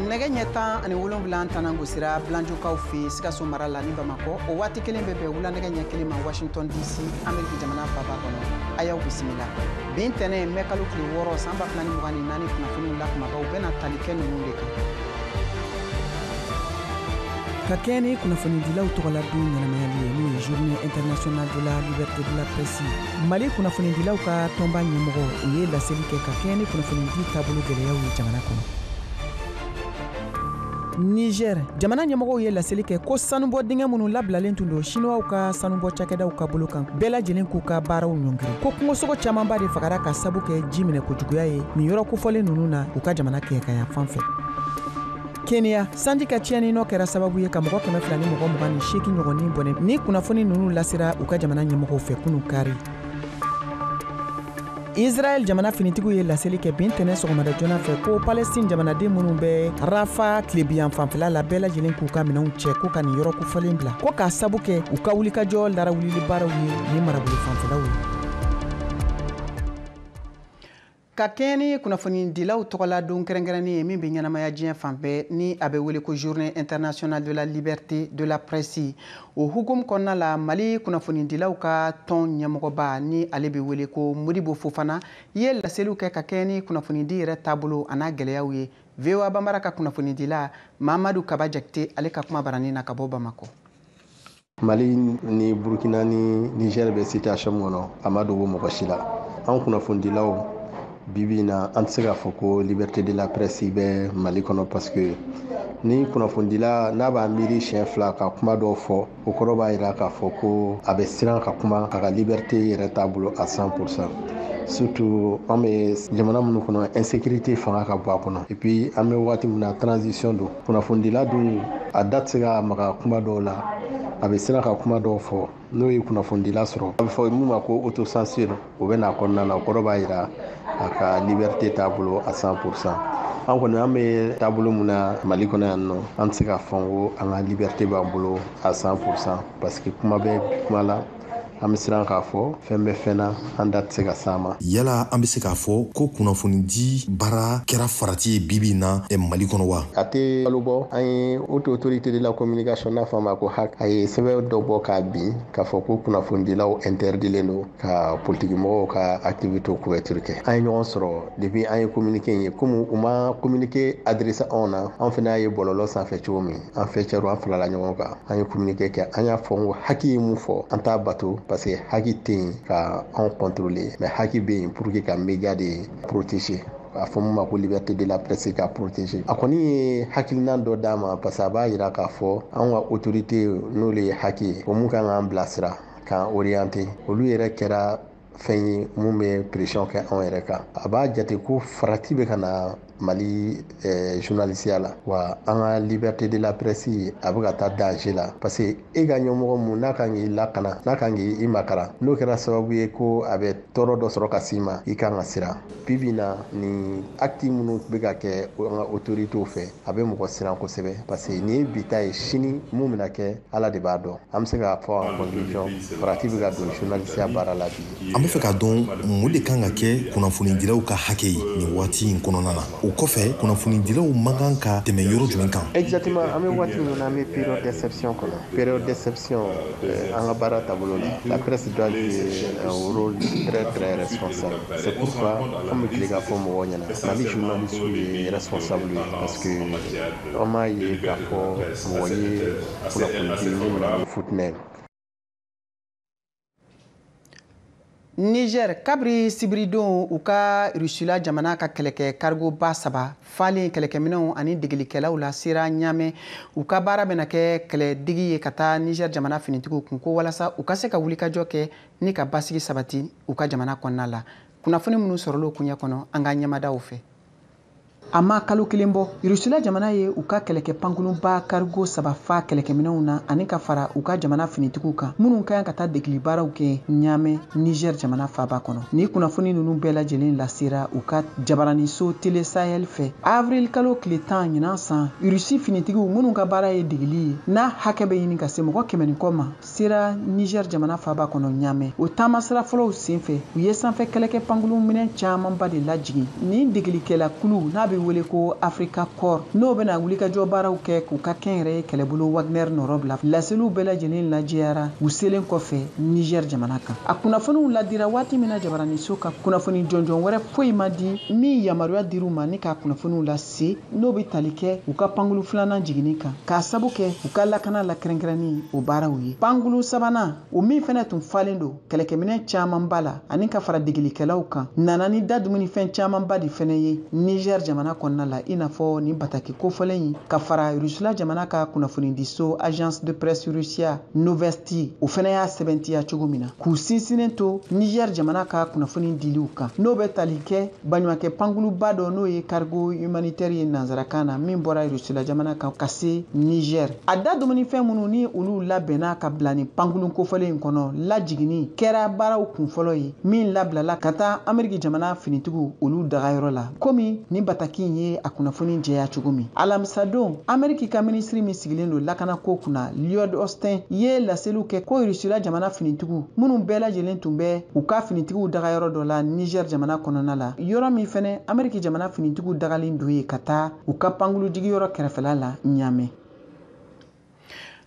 nɛgɛ ɲɛ tan ani wolonwula tanan gosira bilanjokaw fɛ sikaso mara la ni bamakɔ o waati kelen bɛ bɛn wulanɛgɛ ɲɛ kelen ma washington dc ameriki jamana faba kɔnɔ a y'aw bisimila bi ntɛnɛn mɛ kalo tile wɔɔrɔ san ba fila ni mugan ni naani kunnafoniw la kunbabaw bɛna tali kɛ ninnu de kan ka kɛɲɛ ni kunnafonidilaw tɔgɔla don ɲɛnamayali ye n'o ye journée internationale de la liberté de la presse mali kunnafonidilaw ka tɔnba ɲɛmɔgɔw ye laseli kɛ ka kɛɲɛ ni kunnafonidi taabolo gɛlɛyaw ye jamana kɔnɔ niger jamana ɲɛmɔgɔw ye laseli kɛ ko sanubɔ dingɛ minnu labilalen tun don siniwaw ka sanubɔ cakɛdaw ka bolo kan bɛɛ lajɛlen k'u ka baaraw ɲɔngiri ko kungosogo camanba de fagara ka sabu kɛ ji minɛ kojuguya ye nin yɔrɔ kofɔlen ninnu na u ka jamana kɛɲɛkaya fan fɛ keniya sanji ka tiɲɛni nɔ kɛra sababu ye ka mɔgɔ kɛmɛ fila ni mɔgɔ mugan ni seegin ɲɔgɔn ni bɔnɛ nin kunnafoni ninnu lasera u ka jamana ɲɛmɔgɔw fɛ kunu kari israɛl jamana finitigiw ye laseli kɛ bi ntɛnɛn sɔgɔmada joona fɛ ko palɛstin jamanaden minnu bɛ rafa tilebiyan fanfɛla la bɛɛ lajɛlen k'u ka minɛnw cɛ ko ka nin yɔrɔ kofɔlen bila ko k'a sabu kɛ u ka wulikajɔ larawulili baaraw ye ni marabolo fanfɛlaw ye ka kɛɲɛ ni kunnafonidilaw tɔgɔla don kɛrɛnkɛrɛnnen ye min bɛ ɲɛnamaya diɲɛ fan bɛɛ ni a bɛ wele ko journée internationale de la liberté de la presse o hukumu kɔnɔna la mali kunnafonidilaw ka tɔn ɲɛmɔgɔba ni ale bɛ wele ko modibo fofana ye laseliw kɛ ka kɛɲɛ ni kunnafonidi yɛrɛ taabolo an'a gɛlɛyaw ye voa banbara ka kunnafonidila mamadu kaba jakite ale ka kumabaranin na ka bɔ bamakɔ mali ni burkina ni niger bɛ situation min kɔnɔ a ma dogo mɔgɔ si la an kunnafonidilaw bibi na an tɛ se k'a fɔ ko liberté de la presse bɛ mali kɔnɔ parce que ni kunnafonidila n'a b'a miiri siɲɛ fila ka kuma dɔw fɔ o kɔrɔ b'a jira k'a fɔ ko a bɛ siran ka kuma a ka liberté yɛrɛ t'a bolo à 100 pour cent surtout an bɛ jamana minnu kɔnɔ insécurité fanga ka bon a kɔnɔ et puis an bɛ waati min na transition don kunnafonidila dun a da tɛ se ka maga kuma dɔw la a bɛ siran ka kuma dɔw fɔ n'o ye kunnafonidila sɔrɔ a bɛ fɔ min ma ko autocensure o bɛ n'a kɔnɔna na o kɔrɔ b'a jira a ka liberté t'a bolo à 100 pour cent an kɔni an bɛ taabolo min na mali kɔnɔ yanninɔ an tɛ se k'a fɔ ko an ka liberté b'an bolo à 100 pour cent parce que kuma bɛ kuma la an bɛ siran k'a fɔ fɛn bɛ fɛn na an da tɛ se ka s'a ma yala an bɛ se k'a fɔ ko kunnafonidi baara kɛra farati ye bibi na mali kɔnɔ wa a tɛ kalo bɔ an ye haute autorité de la communication n'a fɔ a ma ko hac a ye sɛbɛn dɔ bɔ k'a bin k'a fɔ ko kunnafonidilaw interdilen don ka politikimɔgɔw ka activité couverture kɛ an ye ɲɔgɔn sɔrɔ depuis an ye communiqué in ye komi u ma communiqué adresser anw na anw fana y'a ye bɔlɔlɔ sanfɛ cogo min an faîtièrew an farala ɲɔgɔn kan an ye communiqué kɛ an y'a fɔ ko HAC ye mun fɔ an t'a bato parce que HAC tɛ yen ka anw contrôler mais HAC bɛ yen pour que ka média de protéger a fɔ min ma ko liberté de la presse k'a protéger a kɔni ye hakilina dɔ d'a ma parce que a b'a jira k'a fɔ anw ka autorité n'olu ye HAC ye o mun kan k'an bilasira k'an orienter olu yɛrɛ kɛra fɛn ye mun bɛ pression kɛ anw yɛrɛ kan a b'a jate ko farati bɛ ka na mali eh, journalisiya la wa an ka liberté de la presse a bɛ ka taa danger la parce que e ka ɲɛmɔgɔ mun n'a kan k'i lakana n'a kan k'i makara n'o kɛra sababu ye ko a bɛ tɔɔrɔ dɔ sɔrɔ ka s'i ma i kan ka siran bi bi na nin acte minnu bɛ ka kɛ an ka autoritéw fɛ a bɛ mɔgɔ siran kosɛbɛ parce que nin ye bi ta ye sini mun bɛna kɛ ala de b'a dɔn an bɛ se k'a fɔ en conclusion farati bɛ ka don journalisiya baara la bi an bɛ fɛ k'a dɔn mun de kan ka kɛ kunnafonidilaw ka hakɛ ye nin waati in kɔnɔna na o kɔfɛ kunnafonidilaw man kan ka tɛmɛ yɔrɔ jumɛn kan exactement an bɛ waati min na an bɛ période d'exception kɔnɔ période d'exception euh, an ka baara taabolo la la presse doit jouer un rôle très très responsable c'est pourquoi an bɛ tile k'a fɔ mɔgɔw ɲɛna mali journaliste ye responsable ye parce que an m'a ye k'a fɔ mɔgɔ ye Niger kabiri sibiridon u ka Rusila jamana ka kɛlɛkɛ cargo ba saba falen kɛlɛkɛminɛnw ani degelikɛlaw la sera Niamey u ka baara bɛna kɛ kɛlɛdegi ye ka taa Niger jamana finitigiw kun ko walasa u ka se ka wulikajɔ kɛ ni ka basigi sabati u ka jamana kɔnɔna la kunnafoni minnu sɔrɔla o koɲɛ kɔnɔ an ka ɲɛmadaw fɛ A ma kalo kelen bɔ Rusila jamana ye u ka kɛlɛkɛ pankurunba cargo saba fa kɛlɛkɛminɛnw na ani ka fara u ka jamana finitigiw kan minnu ka kan ka taa degeli baaraw kɛ Ɲaamɛ, Niger jamana faaba kɔnɔ. Ni kunnafoni ninnu bɛɛ lajɛlen lasera u ka jabaraninso Tele Sahel fɛ avril kalo tile tan ɲinan san, Russie finitigiw minnu ka baara ye degeli ye n'a hakɛ bɛ ɲini ka se mɔgɔ kɛmɛ ni kɔ ma, sera Niger jamana faaba kɔnɔ Ɲamɛ. O taamasira fɔlɔw senfɛ, u ye sanfɛ kɛlɛkɛ pankurun minɛn camanba de lajigin. Nin degelikɛla kulu, n'a bɛ wele ko Africa Corps, n'o bɛna wulikajɔ baaraw kɛ k'u ka kɛnyɛrɛye kɛlɛbolo Wagner nɔrɔbila, laseliw bɛɛ lajɛlen lajɛyara u selen kɔfɛ Niger jamana kan. A kunnafoniw ladira waati min na, jabaraniso ka kunnafoni jɔnjɔn wɛrɛ foyi ma di min yamaruya dir'u ma ni ka kunnafoniw lase. se n'o bɛ tali kɛ u ka pankulu filanan jiginni kan k'a sabu kɛ u ka lakana la kɛrɛnkɛrɛnni o baaraw ye pankulu sabanan o min fɛnɛ tun falen don kɛlɛkɛminɛn camanba la ani ka fara degelikɛlaw kan nana ni da dumunifɛn camanba de fɛnɛ ye Niger jamana kɔnɔna la i n'a fɔ nin bataki kofɔlen in ka fara rusila jamana ka kunnafonidiso agence de presse Russia Novosti o fɛnɛ y'a sɛbɛntiya cogo min na k'u sinsinnen to Niger jamana ka kunnafoni diliw kan n'o bɛ tali kɛ baɲumankɛ pankuluba dɔ n'o ye cargo humanitaire ye nansarakan na min bɔra rusula jamana kan ka se niger a da dumunifɛn minnu ni olu labɛnna ka bila ni pankulu kofɔlen in kɔnɔ lajiginni kɛra baaraw kunfɔlɔ ye min labilala ka taa ameriki jamana finitigiw olu dagayɔrɔ la komi ni bataki in ye a kunnafoni jɛya cogo min alamisadon ameriki ka minisiri min sigilen don lakanako kunna lloyd austin ye laseliw kɛ ko rusula jamana finitigiw minnu bɛɛ lajɛlen tun bɛ u ka finitigiw daga yɔrɔ dɔ la Niger jamana kɔnɔna la, yɔrɔ min fɛnɛ Ameriki jamana finitigiw dagalen don yen ka taa u ka pankulu jigiyɔrɔ kɛrɛfɛla la Niamey.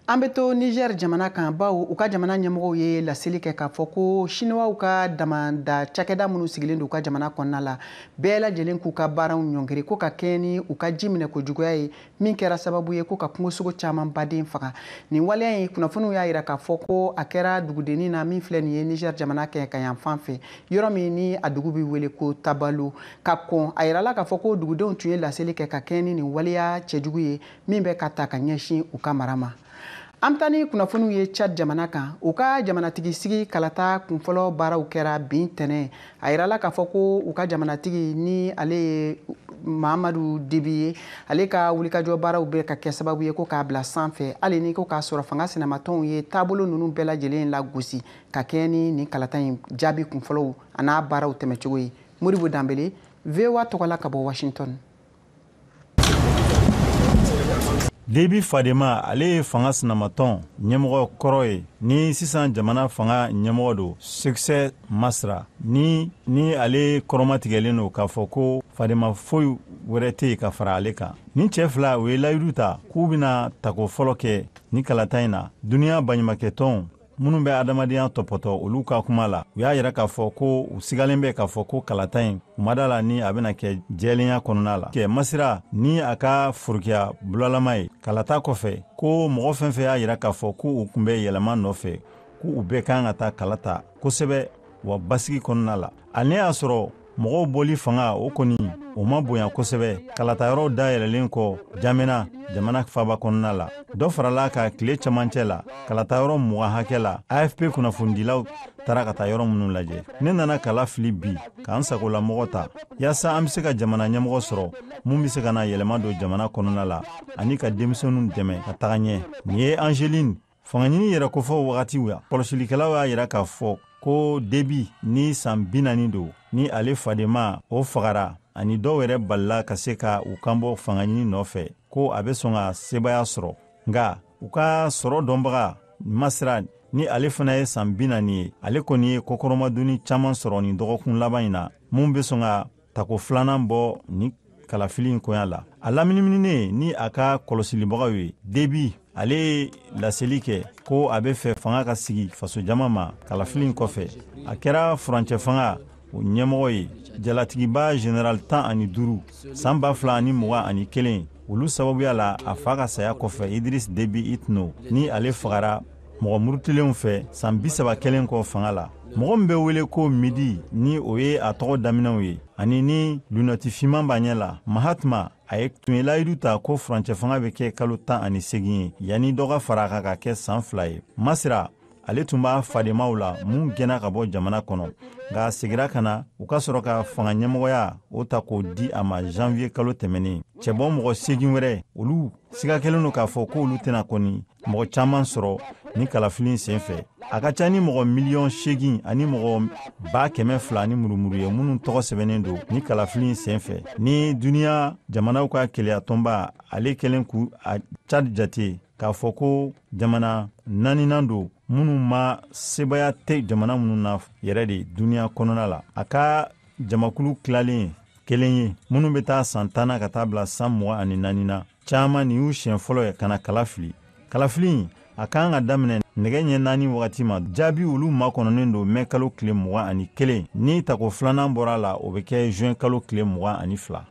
An bɛ to Niger jamana kan bawo u ka jamana ɲɛmɔgɔw ye laseli kɛ k'a fɔ ko Siniwaw ka damanda cakɛda minnu sigilen don u ka jamana kɔnɔna la, bɛɛ lajɛlen k'u ka baaraw ɲɔngiri ko ka kɛɲɛ ni u ka ji minɛkojuguya ye min kɛra sababu ye ko ka kungosogo caman baden faga nin waleya in kunnafoniw y'a yira k'a fɔ ko a kɛra dugudennin na min filɛ nin ye niger jamana kɛɲɛka yanfan fɛ yɔrɔ min ni a dugu bɛ wele ko tabelot ka kɔn a yirala k'a fɔ ko dugudenw tun ye laseli kɛ ka kɛɲɛ ni nin waleya cɛjugu ye min bɛ ka ta ka ɲɛsin u ka mara ma an bɛ taa ni kunnafoniw ye chad jamana kan u ka jamanatigi sigi kalata kunfɔlɔ baaraw kɛra bi ntɛnɛn a yirala k'a fɔ ko u ka jamanatigi ni ale ye mahamadu debi ye ale ka wulikajɔ baaraw bɛ ka kɛ sababu ye ko k'a bila sanfɛ hali ni ko k'a sɔrɔ fanga sinamatɔnw ye taabolo ninnu bɛɛ lajɛlen lagosi ka kɛɲɛ ni nin kalata in jaabi kunfɔlɔw an'a baaraw tɛmɛcogo ye modibo danbele voa tɔgɔla ka bɔ washington Debi fadenma ale ye fanga sinamatɔn ɲɛmɔgɔ kɔrɔ ye ni sisan jamana fanga ɲɛmɔgɔ don Succès Masra ni ni ale kɔrɔmatigɛlen don k'a fɔ ko fadenma foyi wɛrɛ tɛ yen ka fara ale kan. Nin cɛ fila u ye layidu ta k'u bɛna tako fɔlɔ kɛ nin kalata in na duniya baɲumakɛtɔnw minnu bɛ adamadenya tɔpɔtɔ olu ka kuma la u y'a yira k'a fɔ ko u sigalen bɛ k'a fɔ ko kalata in k'u ma da la ni a bɛna kɛ jɛlenya kɔnɔna la kɛ masra ni a ka forokiya bulalama ye kalata kɔfɛ ko mɔgɔ fɛn fɛn y'a yira k'a fɔ ko u tun bɛ yɛlɛma nɔfɛ ko u bɛɛ kan ka taa kala ta kosɛbɛ wa basigi kɔnɔna la n'i y'a sɔrɔ mɔgɔw bɔli fanga o kɔni o ma bonya kosɛbɛ kalatayɔrɔw dayɛlɛlen kɔ n'djamena jamana faba kɔnɔna la dɔ farala a kan tile camancɛ la kalatayɔrɔ mugan hakɛ la afp kunnafonidilaw taara ka taa yɔrɔ minnu lajɛ ne nana kala fili bi k'an sagolamɔgɔ ta yaasa an be se ka jamana ɲɛmɔgɔ sɔrɔ min be se ka na yɛlɛma don jamana kɔnɔna la ani ka denmisɛnu dɛmɛ ka taga ɲɛ nin ye angeline fangaɲini yɛrɛkofɔ wagatiw la kɔlɔsilikɛlaw y'a yira k'a fɔ ko debi ni san binani don ni ale fadenma o fagara ani dɔw yɛrɛ balila ka se ka u kanbɔ fangaɲini nɔfɛ ko a bɛ sɔn ka sebaaya sɔrɔ nka u ka sɔrɔ dɔnbaga masra ni ale fana ye san binani ye ale kɔni ye kɔkɔrɔmadonni caman sɔrɔ nin dɔgɔkun laban in na min bɛ sɔn ka tako filanan bɔ ni kalafili in koya la a lamininen ni a ka kɔlɔsilibagaw ye debi ale ye laseli kɛ ko a b'a fɛ fanga ka segin fasojama ma kalafili in kɔfɛ a kɛra furancɛ fanga o ɲɛmɔgɔ ye jalatigiba general tan ani duuru san ba fila ani mugan ani kelen olu sababuya la a fa ka saya kɔfɛ idiris debi itno ni ale fagara mɔgɔ murutilenw fɛ san bisaba kɛlen kɔ fanga la mɔgɔ min bɛ wele ko midi ni o ye a tɔgɔ daminɛw ye ani ni lunɛti finman b'a ɲɛ la mahamat ale tun ye layidu ta ko furancɛ fanga bɛ kɛ kalo tan ani segin ye yanni dɔ ka fara a kan ka kɛ san fila ye masira ale tun b'a fadenmaw la min gɛnna ka bɔ jamana kɔnɔ nka a segira ka na u ka sɔrɔ ka fanga ɲɛmɔgɔya o ta k'o di a ma janviye kalo tɛmɛnen cɛbɔ mɔgɔ segin wɛrɛ olu siga kɛlen don k'a fɔ k'olu tɛna kɔni mɔgɔ caman sɔrɔ ni kalafili sen fɛ a ka ca ni mɔgɔ miliyɔn segin ani mɔgɔ ba kɛmɛ fila ni murumuru ye minnu tɔgɔ sɛbɛnnen don ni kalafili sen fɛ ni duniya jamanaw ka kelenya tɔnba ale kɛlen ka cad jate k'a fɔ ko jamana naaninan don minnu ma sebaaya tɛ jamana minnu na yɛrɛ de duniya kɔnɔna la a ka jamakulu tilalen kelen ye minnu bɛ ta san tan na ka taa bila san mugan ani naani na caman nin y'u siɲɛ fɔlɔ ye ka na kala fili kalafili in a ka kan ka daminɛ nɛgɛ ɲɛ naani wagati ma jaabi olu makɔnɔnen don mɛ kalo tile mugan ani kelen ni tako filanan bɔra a la o bɛ kɛ juin kalo tile mugan ani fila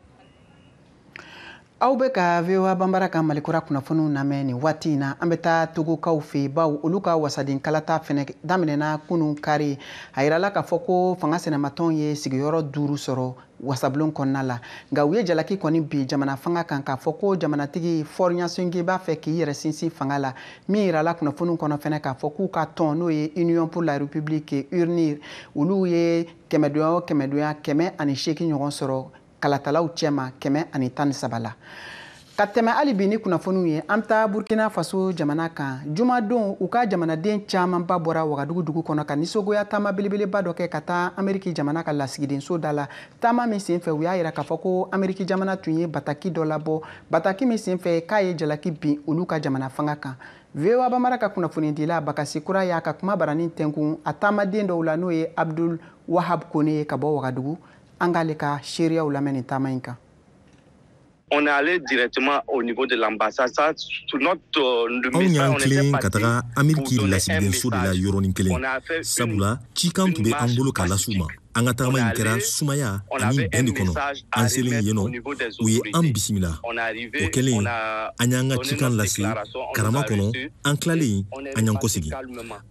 aw bɛ ka voa bambara ka malikura kunnafoniw lamɛn nin waati in na an bɛ taa togokaw fɛ bawo olu ka wasaden kalata fɛnɛ daminɛna kunun kari a yirala k'a fɔ ko fanga sinamatɔnw ye sigiyɔrɔ duuru sɔrɔ wasabulon kɔnɔna la nka u ye jalaki kɔni bin jamana fanga kan k'a fɔ ko jamanatigi faure gnassingbé b'a fɛ k'i yɛrɛ sinsin fanga la min yirala kunnafoniw kɔnɔ fɛnɛ k'a fɔ k'u ka tɔn n'o ye union pour la république unir olu ye kɛmɛdonya o kɛmɛdonya kɛmɛ ani seegin ɲɔgɔn sɔrɔ kalatalaw cɛma kɛmɛ ani tan ni saba la ka tɛmɛ hali bi ni kunnafoniw ye an bɛ taa burkina faso jamana kan jumadon u ka jamanaden camanba bɔra wagadugu dugu kɔnɔ ka nisɔngoya taama belebeleba dɔ kɛ ka taa ameriki jamana ka lasigidenso da la taama min senfɛ u y'a yira k'a fɔ ko ameriki jamana tun ye bataki dɔ labɔ bataki min senfɛ k'a ye jalaki bin olu ka jamana fanga kan voa bambara ka kunnafonidila bakasi kura y'a ka kumabaranin tɛnkun a taamaden dɔw la n'o ye abdul wahab kone ye ka bɔ wagadugu an k'ale ka seereyaw lamɛn nin taama in kan on est allé directement au niveau de l'ambassade. Ça, tout notre euh, Anw y'an tilen ka taga Ameriki lasigidenso de la yɔrɔnin kelen sabula cikan tun bɛ an bolo k'a las'u ma an ka tagama in kɛra sumaya ani bɛn de kɔnɔ an selen yen nɔ u ye an bisimila o kɛlen an y'an ka cikan lase karama kɔnɔ an tilalen an y'an kɔsegi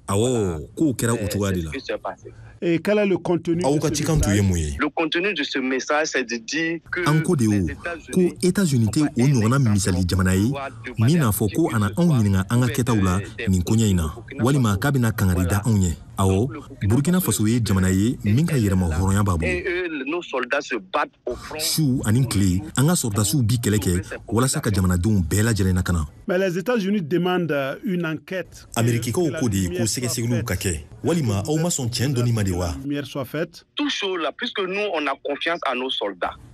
awɔ kow kɛra o cogoya de la Et quel est le contenu aw ka cikan tun ye mun ye an ko de o ko états-unis tɛ o ɲɔgɔnna misali jamana ye min n'a fɔ ko a na anw ɲininka an ka kɛtaw la nin koɲɛ in na walima k'a bɛna kangari da anw ye awɔ burkina faso ye jamana ye min ka yɛrɛma hɔrɔnya b'a bolo su ani tile an ka sɔrɔdasiw bi kɛlɛ kɛ walasa ka jamanadenw bɛɛ lajɛlen lakana amerikikaw ko de ye ko sɛgɛsɛgɛliw ka kɛ walima aw ma sɔn tiɲɛ dɔnni ma de wa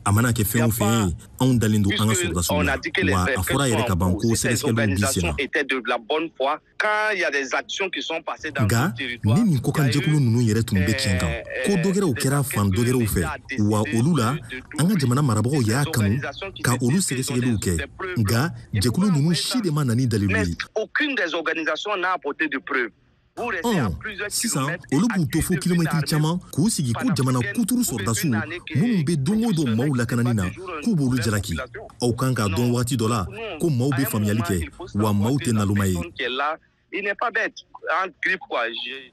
a mana kɛ fɛn o fɛn ye anw dalen don an ka sɔrɔdasiw la wa a fɔra yɛrɛ ka ban ko sɛgɛsɛgɛliw bi sen na nka ni nin kokanjɛkulu ninnu yɛrɛ tun bɛ tiɲɛ kan ko dɔgɛrɛw kɛra fan dɔgɛrɛw fɛ wa olu la an ka jamana marabagaw y'a kanu ka olu sɛgɛsɛgɛliw kɛ nka jɛkulu ninnu si de ma na ni dalilu ye ɔ sisan olu b'u to fo kilomɛtiri caman k'u sigi ko jamana kuturu sɔrɔdasiw minnu bɛ don o don maaw lakanani na k'u b'olu jalaki aw kan k'a dɔn wagati dɔ la ko maaw bɛ faamuyali kɛ wa maaw tɛ naloma ye Il n'est pas bête, en grippe quoi. Je...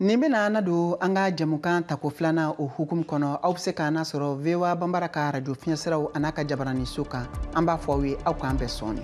nin bena an nadon an ka jɛmukan tako filanan o hukumu kɔnɔ aw be se k'an nasɔrɔ voa banbara ka radio fiɲɛsiraw an'a ka jabaraniso kan an b'a fɔ aw ye aw k'an bɛn sɔɔni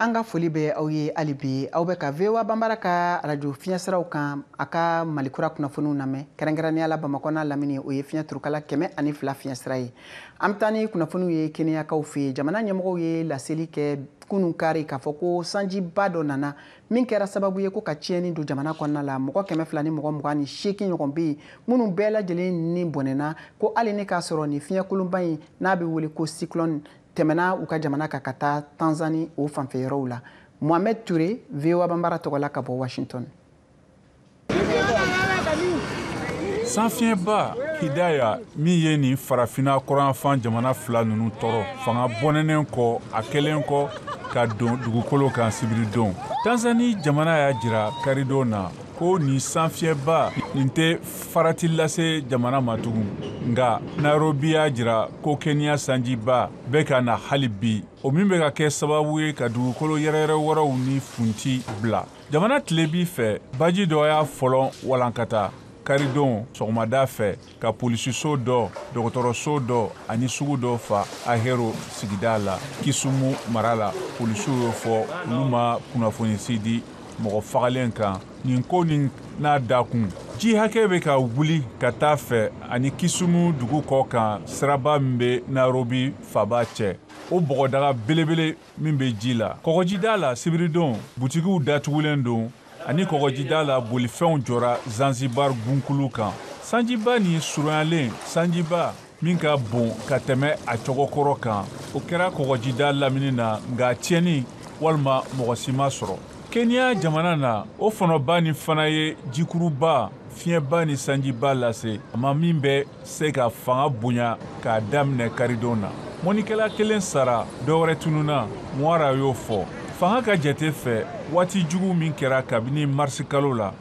an ka foli bɛ aw ye hali bi aw bɛ ka voa banbara ka arajo fiɲɛsiraw kan a ka malikura kunnafoniw lamɛn kɛrɛnkɛrɛnnenya la bamakɔ n'a lamini o ye fiɲɛ turukala kɛmɛ ani fila fiɲɛsira ye an bɛ taa ni kunnafoniw ye keniyakaw fɛ yen jamana ɲɛmɔgɔw ye laseli kɛ kunun kari k'a fɔ ko sanjiba dɔ nana min kɛra sababu ye ko ka tiɲɛni don jamana kɔnɔna la mɔgɔ kɛmɛ fila ni mɔgɔ mugan ni seegin ɲɔgɔn bɛ yen minnu bɛɛ lajɛlen ni bɔnɛna ko hali ni k'a sɔrɔ nin fiɲɛkolonba in n'a bɛ wele ko cyclone tɛmɛna u ka jamana kan ka taa tanzani o fanfɛ yɔrɔw la mohamed ture voa banbara tɔgɔ la ka bɔ washington sanfiɲɛba hidaya min ye nin farafina kɔrɔnyanfan jamana fila ninnu tɔɔrɔ fanga bɔnɛnen kɔ a kɛlen kɔ ka don dugukolo kan sibiridon tanzani jamana y'a jira karidon na ko nin sanfiɲɛba nin tɛ farati lase jamana ma tugun nka nairobi y'a jira ko keniya sanjiba bɛ ka na hali bi o min bɛ ka kɛ sababu ye ka dugukolo yɛrɛyɛrɛ wɛrɛw ni funti bila jamana tilebin fɛ baji dɔ y'a folon walankata karidon sɔgɔmada fɛ ka polisiso dɔ dɔgɔtɔrɔso dɔ ani sugu dɔ fa ahero sigida la kisumu mara la polisiw y'o fɔ olu ma kunnafoni si di mɔgɔ fagalen kan nin ko nin na dakun ji hakɛ bɛ ka wuli ka taa fɛ ani kisumu dugu kɔ kan siraba min bɛ nairobi faaba cɛ o bɔgɔdaga belebele min bɛ ji la kɔgɔjida la sibiridon butikiw datugulen don ani kɔgɔjida la bolifɛnw jɔra zanzibar gunkulu kan sanjiba ni surunyalen sanjiba min ka bon ka tɛmɛ a cogo kɔrɔ kan o kɛra kɔgɔjida lamini na nka tiɲɛni walima mɔgɔ si ma sɔrɔ keniya jamana na o fɔnɔba nin fana ye jikuruba fiɲɛba ni sanjiba lase a ma min bɛ se ka fanga bonya k'a daminɛ karidon na mɔnnikɛla kelen sara dɔwɛrɛ tununna mwaura y'o fɔ fanga ka jate fɛ waati jugu min kɛra kabini marisikalo la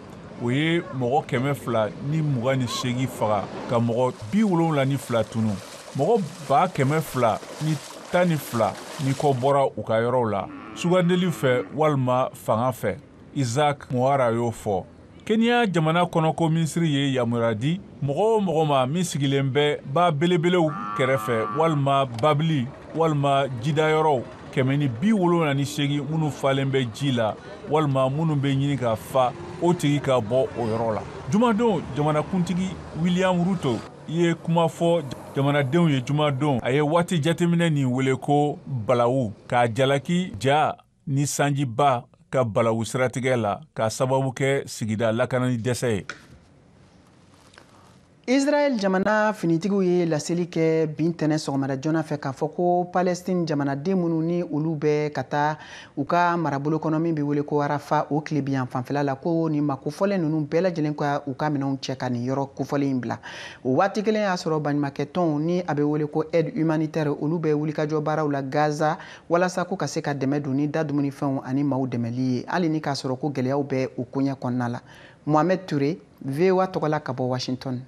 o ye mɔgɔ kɛmɛ fila ni mugan ni seegin faga ka mɔgɔ bi wolonwula ni fila tunun mɔgɔ ba kɛmɛ fila ni tan ni fila ni kɔ bɔra u ka yɔrɔw la sugandili fɛ walima fanga fɛ Isaac Mwaura y'o fɔ. Kenya jamana kɔnɔko minisiri ye yamaruya di mɔgɔ o mɔgɔ ma min sigilen bɛ ba belebelew kɛrɛfɛ walima babili walima jidayɔrɔw kɛmɛ ni bi wolonwula ni seegin minnu falen bɛ ji la walima minnu bɛ ɲini ka fa o tigi ka bɔ o yɔrɔ la jumadon jamanakuntigi william ruto ye kuma fɔ jamanadenw ye jumadon a ye waati jateminɛ nin wele ko balawu k'a jalaki ja ni sanjiba ka balawu siratigɛ la k'a sababu kɛ sigida lakanani dɛsɛ ye israɛl jamana finitigiw ye laseli kɛ bi ntɛnɛn sɔgɔmada joona fɛ k'a fɔ ko palɛstin jamanaden minnu ni olu bɛ ka taa u ka marabolo kɔnɔ min bɛ wele ko rafah o tilebinyan fanfɛla la ko nin maa kofɔlen ninnu bɛɛ lajɛlen ka u ka minɛnw cɛ ka nin yɔrɔ kofɔlen in bila o waati kelen y'a sɔrɔ baɲumankɛ tɔnw ni a bɛ wele ko aide humanitaire olu bɛ wulikajɔ baaraw la gaza walasa ko ka se ka dɛmɛ don ni da dumunifɛnw ani maaw dɛmɛli ye hali ni k'a sɔrɔ ko gɛlɛyaw bɛ u koɲɛ kɔnɔna la mohamed ture voa tɔgɔla ka bɔ washington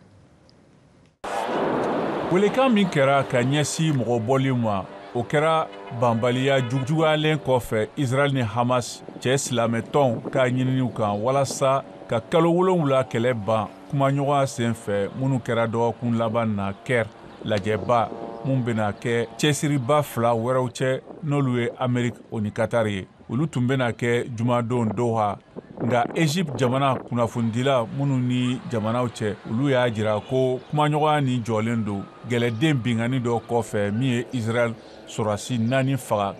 welekan min kɛra ka ɲɛsi mɔgɔ bɔli ma o kɛra bɛnbaliya juguyalen kɔfɛ israel ni hamas cɛ silamɛtɔnw ka ɲininiw kan walasa ka kalo wolonwula kɛlɛ ban kumaɲɔgɔnya sen fɛ minnu kɛra dɔgɔkun laban na caire lajɛba minnu bɛna kɛ cɛsiriba fila wɛrɛw cɛ n'olu ye ameriki o ni katari ye olu tun bɛna kɛ jumadon doha nka egypte jamana kunnafonidila minnu ni jamanaw cɛ olu y'a jira ko kumaɲɔgɔnya nin jɔlen don kɛlɛden binkanni dɔ kɔfɛ min ye israel sɔrasi naani faga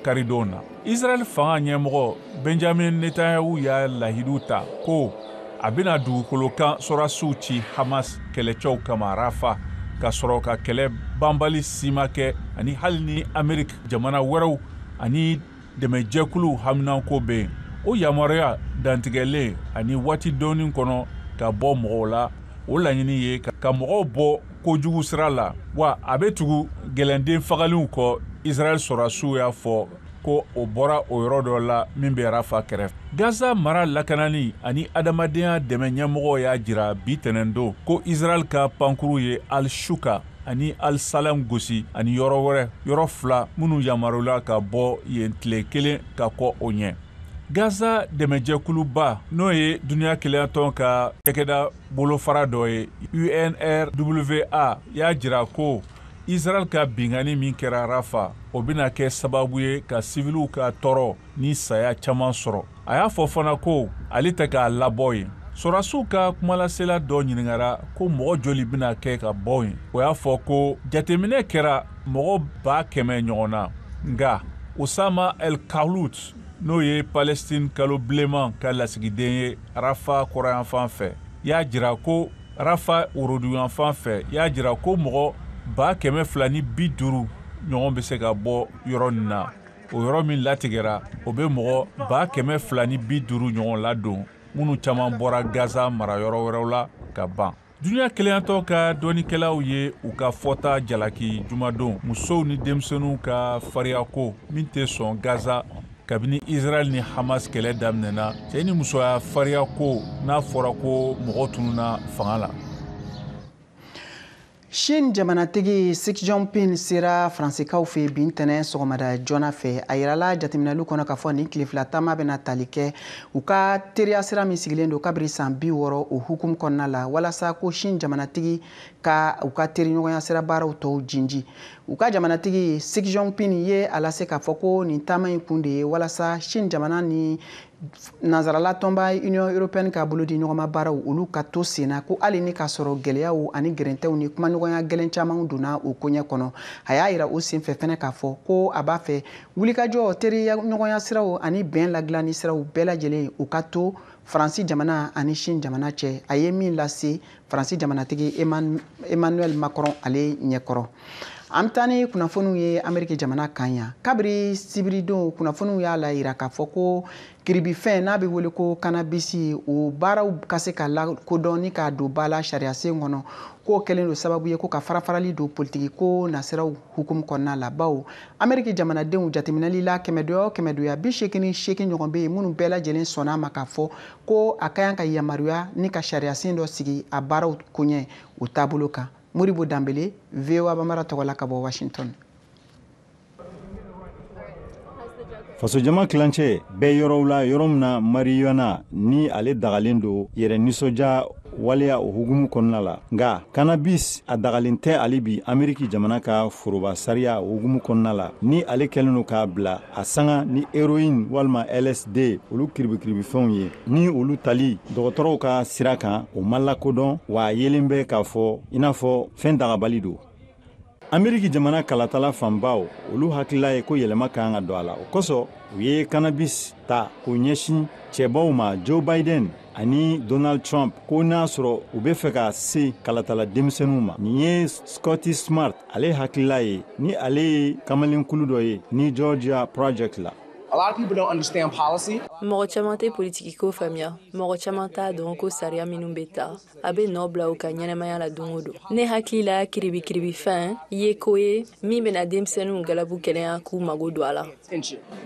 karidon na israɛl fanga ɲɛmɔgɔ benjamin netanyahu y'a lahidu ta ko a bɛna dugukolo kan sɔrasiw ci hamas kɛlɛcɛw kama rafa ka sɔrɔ ka kɛlɛ banbali sima kɛ ani hali ni amerik jamana wɛrɛw ani dɛmɛjɛkuluw haminanko bɛ yen o yamaruya dantigɛlen ani waati dɔɔni kɔnɔ ka bɔ mɔgɔw la o laɲini ye ka mɔgɔw bɔ kojugu sira la wa a bɛ tugu gɛlɛnden fagaliw kɔ israɛl sɔrasiw y'a fɔ ko o bɔra o yɔrɔ dɔ la min bɛ rafa kɛrɛfɛ gaza mara lakanani ani adamadenya dɛmɛ ɲɛmɔgɔ y'a jira bi tɛnɛndon ko israɛl ka pankuru ye al shuka ani al salam gosi ani yɔrɔ wɛrɛ yɔrɔ fila minnu yamaruyala ka bɔ yen tile kelen ka kɔ o ɲɛ gaza dɛmɛjɛkuluba n'o ye duniɲa kelenyatɔn ka cɛkɛda bolofara dɔ ye unrwa y'a jira ko israɛl ka binkanni min kɛra rafa o bɛna kɛ sababu ye ka siviliw ka tɔɔrɔ ni saya caman sɔrɔ a y'a fɔ fana ko ale tɛ k'a labɔ yen sɔrasiw ka kumalasela dɔ ɲiningara ko mɔgɔ joli bɛna kɛ ka bɔ yen o y'a fɔ ko jateminɛ kɛra mɔgɔ baa kɛmɛ ɲɔgɔn na nga osama el kahlut n'o ye palestine kalo bilenman ka lasigiden ye rafa kɔrɔyanfan fɛ y'a jira ko rafa woroduyanfan fɛ y'a jira ko mɔgɔ baa kɛmɛ fila ni bi duuru ɲɔgɔn bɛ se ka bɔ yɔrɔ nin na o yɔrɔ min latigɛra o bɛ mɔgɔ ba kɛmɛ fila ni bi duuru ɲɔgɔn ladon minnu caman bɔra gaza mara yɔrɔ wɛrɛw la ka ban duniɲa kelenyatɔn ka dɔnnikɛlaw ye u ka fɔta jalaki jumadon musow ni denmisɛnninw ka fariyako min tɛ sɔn gaza kabini israɛl ni hamas kɛlɛ daminɛna cɛ ni musoya fariyako n'a fɔra ko mɔgɔ tununa fanga la Chine jamanatigi Xi Jinping sera Faransikaw fɛ bi ntɛnɛn sɔgɔmada joona fɛ. A yirala jateminɛliw kɔnɔ k'a fɔ nin tile fila taama bɛna tali kɛ u ka teriya sira min sigilen don kabiri san bi wɔɔrɔ o hukumu kɔnɔna la walasa ko Chine jamanatigi ka u ka teriɲɔgɔnya sira baaraw tɔw jinji. U ka jamanatigi Xi Jinping ye a lase k'a fɔ ko nin taama in kun de ye walasa Chine jamana ni nansarala tɔnba union européenne ka bolo di ɲɔgɔnma baaraw olu ka to senna ko hali ni k'a sɔrɔ gwɛlɛyaw ani gɛrɛntɛw ni kumaɲɔgɔnya gwɛlɛn camanw donna o koɲɛ kɔnɔ a y'a yira o senfɛ fɛnɛ k'a fɔ ko a b'a fɛ wulikajɔ teriya ɲɔgɔnya siraw ani bɛn ladilanni siraw bɛɛ lajɛlen u ka to faransi jamana ani chine jamana cɛ a ye min lase faransi jamanatigi emmanuel macron ale ɲɛkɔrɔ an bɛ taa ni kunnafoniw ye ameriki jamana kan yan kabiri sibiridon kunnafoniw y'a la yira k'a fɔ ko kiribifɛn n'a bɛ wele ko kanabisi o baaraw ka se ka lakodɔn ni k'a don ba la sariyasen kɔnɔ k'o kɛlen don sababu ye ko ka farafarali don politikiko nasiraw hukumu kɔnɔna la bawo ameriki jamanadenw jateminɛli la kɛmɛdoya o kɛmɛdoya bi seegin ni seegin ɲɔgɔn bɛ yen minnu bɛɛ lajɛlen sɔnna a ma k'a fɔ ko a ka kan ka yamaruya ni ka sariyasen dɔ sigi a baaraw koɲɛ o taabolo kan modibo dembele voa bambara tɔgɔ la ka bɔ washington fasojama tilancɛ bɛɛ yɔrɔw la yɔrɔ min na mariyana ni ale dagalen don yɛrɛ nisɔndiya waleya o hukumu kɔnɔna la nka kanabis a dagalen tɛ hali bi ameriki jamana ka foroba sariya o hukumu kɔnɔna la ni ale kɛlen don k'a bila a sanga ni heroin walima lsd olu kiribikiribifɛnw ye ni olu tali dɔgɔtɔrɔw ka sira kan o ma lakodɔn wa a yelen bɛ k'a fɔ i n'a fɔ fɛn dagabali don ameriki jamana kalatala fanbaw olu hakilila ye ko yɛlɛma ka kan ka don a la o kosɔn u ye kanabis ta k'u ɲɛsin cɛbaw ma joe biden ani donald trump ko n'a sɔrɔ u bɛ fɛ ka se kalatala denmisɛnninw ma nin ye scotty smart ale hakilila ye ni ale ye kamalenkulu dɔ ye new georgia project la mɔgɔ caman tɛ politikiko faamuya mɔgɔ caman t'a dɔn ko sariya minnu bɛ ta a bɛ nɔ bila u ka ɲɛnamaya la don o don ne hakili la kiribikiribifɛn ye ko ye min bɛna denmisɛnninw galabu kɛnɛya k'u mago don a la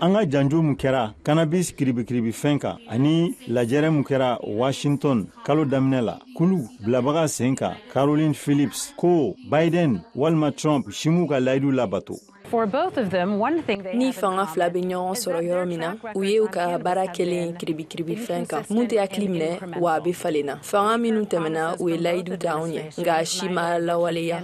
an ka janjo min kɛra kanabis kiribikiribifɛn kan ani lajɛrɛ min kɛra washington kalo daminɛ la kulu bilabaga sen kan caroline phillips ko biden walima trump si m'u ka layidu labato ni fanga fila bɛ ɲɔgɔn sɔrɔ yɔrɔ min na o ye u ka baara kɛlen kiribikiribifɛn kan min tɛ hakili minɛ wa a bɛ falen na fanga minnu tɛmɛna u ye layidu ta anw ye nka si ma lawaleya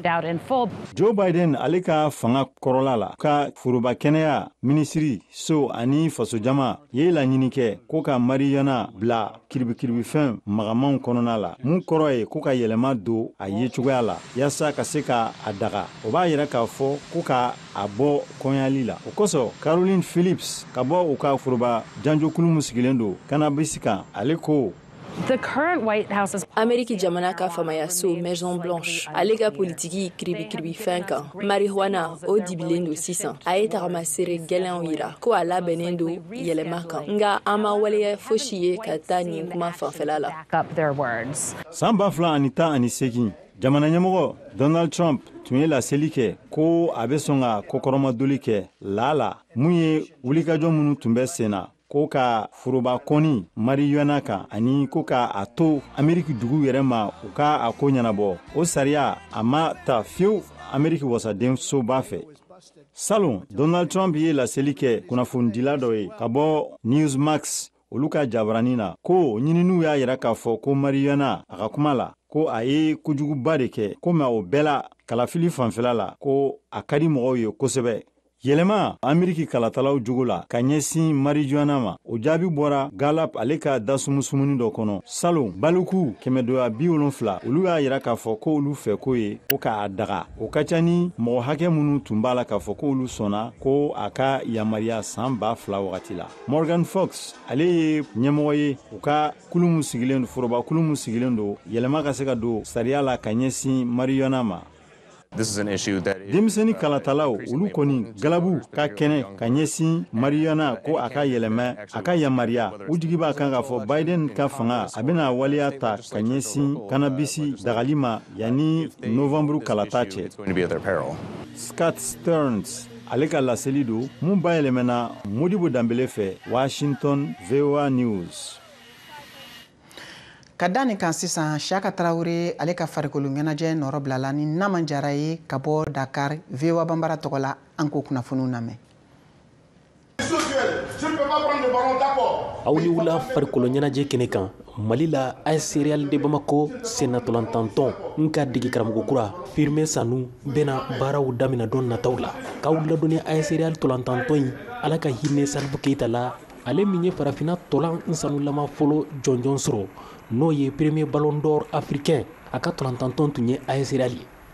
joe biden ale ka fanga kɔrɔla la ka foroba kɛnɛya minisiriso ani fasojama ye laɲini kɛ ko ka mariyana bila kiribikiribifɛn magamanw kɔnɔna la min kɔrɔ ye ko ka yɛlɛma don a ye cogoya la yaasa ka se ka a daga o b'a yira k'a fɔ ko ka a bɔ kɔnyali la o kosɔn caroline phillips ka bɔ u ka foroba janjokulu min sigilen don kanabisi kan ale ko ameriki jamana ka faamayaso maison blanche ale ka politiki kiribikiribifɛn kan marijuana o dibilen don sisan a ye tagamasere gɛlɛnw yira ko a labɛnnen don yɛlɛma kan nka an ma waleya fosi ye ka taa nin kuma fanfɛla la san ba fila ani tan ani segin jamana ɲɛmɔgɔ donald trump tun ye laseli kɛ ko a bɛ sɔn ka kɔkɔrɔmadoli kɛ laa la mun ye wulikajɔ minnu tun bɛ senna ko ka foroba kɔni marijuana kan ani ko ka a to ameriki dugu yɛrɛ ma u ka a ko ɲɛnabɔ o sariya a ma ta fewu ameriki wasadensoba fɛ salon donald trump ye laseli kɛ kunnafonidila dɔ ye ka bɔ newsmax olu ka jabarani na ko ɲininiw y'a yira k'a fɔ ko marijuana a ka kuma la ko a ye kojuguba de kɛ ko mais o bɛɛ la kalafili fanfɛla la ko a ka di mɔgɔw ye kosɛbɛ yɛlɛma ameriki kalatalaw jogo la ka ɲɛsin marijuana ma o jaabi bɔra gallup ale ka dasumusumunni dɔ kɔnɔ salon baliku kɛmɛdoya bi wolonfila olu y'a yira k'a fɔ ko olu fɛ ko ye ko k'a daga o ka ca ni mɔgɔ hakɛ minnu tun b'a la k'a fɔ k'olu sɔnna ko a ka yamariya san ba fila wagati la morgan fox ale ye ɲɛmɔgɔ ye u ka kulu min sigilen foroba kulu min sigilen don yɛlɛma ka se ka don sariya la ka ɲɛsin marijuana ma denmisɛnnin kalatalaw olu kɔni galabu ka kɛnɛ ka ɲɛsin marijuana ko a ka yɛlɛmɛ a ka yamariya u jigi b'a kan k'a fɔ biden ka fanga a bɛna waleya ta ka ɲɛsin kannabisi dagali ma Yanni novembre kalata cɛ scott stearns ale ka laseli don mun bayɛlɛmɛna modibo danbele fɛ washington voa news ka da nin kan sisan siyaka tarawele ale ka farikolo ɲɛnajɛ nɔrɔbilala ni naman jara ye ka bɔ dakar voa banbara tɔgɔ la an k'o kunnafoniw lamɛn aw ni wula farikolo ɲɛnajɛ kɛnɛ kan mali la as real de bamako sennatolantantɔn in ka dege karamɔgɔ kura firmin sanu bena baaraw damina don nataw la k'aw ladɔnni as real tolantantɔn in ala ka hinɛ salif keita la ale min ye farafina tolan sanulama fɔlɔ jɔnjɔn sɔrɔ n'o ye premier ballon d'or africain a ka tolantantɔn tun ye as real ye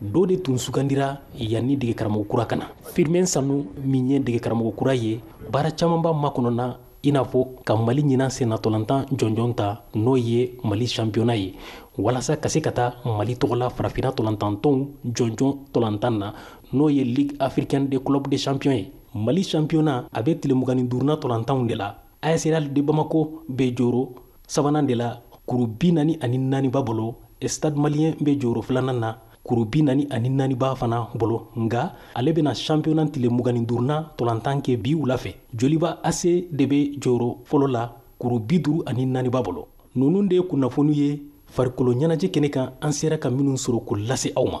dɔ de tun sugandira yanni dege karamɔgɔ kura ka na firmin sanu min ye dege karamɔgɔ kura ye baara caman b'a makɔnɔna i n'a fɔ ka mali ɲinan sennatolantan jɔnjɔn ta n'o ye mali championnat ye walasa ka se ka taa mali tɔgɔ la farafina tolantantɔnw jɔnjɔn tolantan na n'o ye ligue africaine de club de champion ye mali championnat a bɛ tile mugan ni duurunan tolantanw de la AS Real de Bamako bɛ jɔyɔrɔ sabanan de la kuru bi naani ani naani b'a bolo, Stade Malien bɛ jɔyɔrɔ filanan na kuru bi naani ani naani b'a fana bolo, nka ale bɛna championnat tile mugan ni duurunan tolantan kɛ bi wula fɛ. Joliba AC de bɛ jɔyɔrɔ fɔlɔ la kuru bi duuru ani naani b'a bolo. Ninnu de ye kunnafoniw ye farikolo ɲɛnajɛ kɛnɛ kan an sera ka minnu sɔrɔ k'o lase aw ma.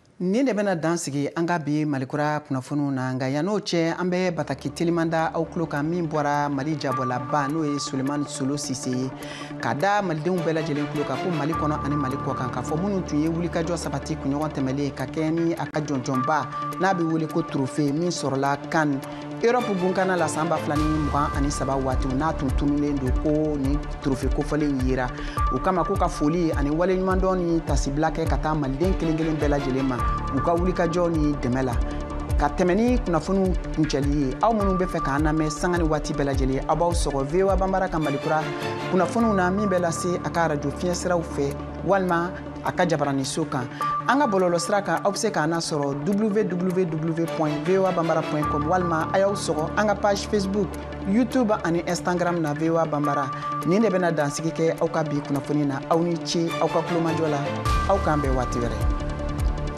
Nin de bɛna dan sigi an ka bi malikura kunnafoniw na nka yann'o cɛ an bɛ bataki teliman da aw tulo kan min bɔra mali jabɔlaba n'o ye sulemani solo sise ye k'a da malidenw bɛɛ lajɛlen tulo kan ko mali kɔnɔ ani mali kɔkan k'a fɔ minnu tun ye wulikajɔ sabati kunɲɔgɔn tɛmɛnlen ka kɛɲɛ ni a ka jɔnjɔnba n'a bɛ wele ko trofe min sɔrɔla kan Europe gunkana la san ba fila ni mugan ani saba waati n'a tun tunulen don ko ni trofe kofɔlen yera o kama ko ka foli ani waleɲumandɔn ni tasibila kɛ ka taa maliden kelen kelen bɛɛ lajɛlen ma u ka wulikajɔ ni dɛmɛ la ka tɛmɛ ni kunnafoniw kuncɛli ye aw minnu bɛ fɛ k'an lamɛn sanga ni waati bɛɛ lajɛlen aw b'aw sɔgɔ voa banbara ka malikura kunnafoniw na min bɛ lase a ka arajo fiɲɛ siraw fɛ walima a ka jabaraninso kan an ka bɔlɔlɔsira kan aw bɛ se k'an sɔrɔ www voa banbara com walima a y'aw sɔgɔ an ka page facebook youtube ani instagram na voa banbara nin de bɛna dansigi kɛ aw ka bi kunnafoni na aw ni ce aw ka tulomajɔ la aw k'an bɛn waati wɛrɛ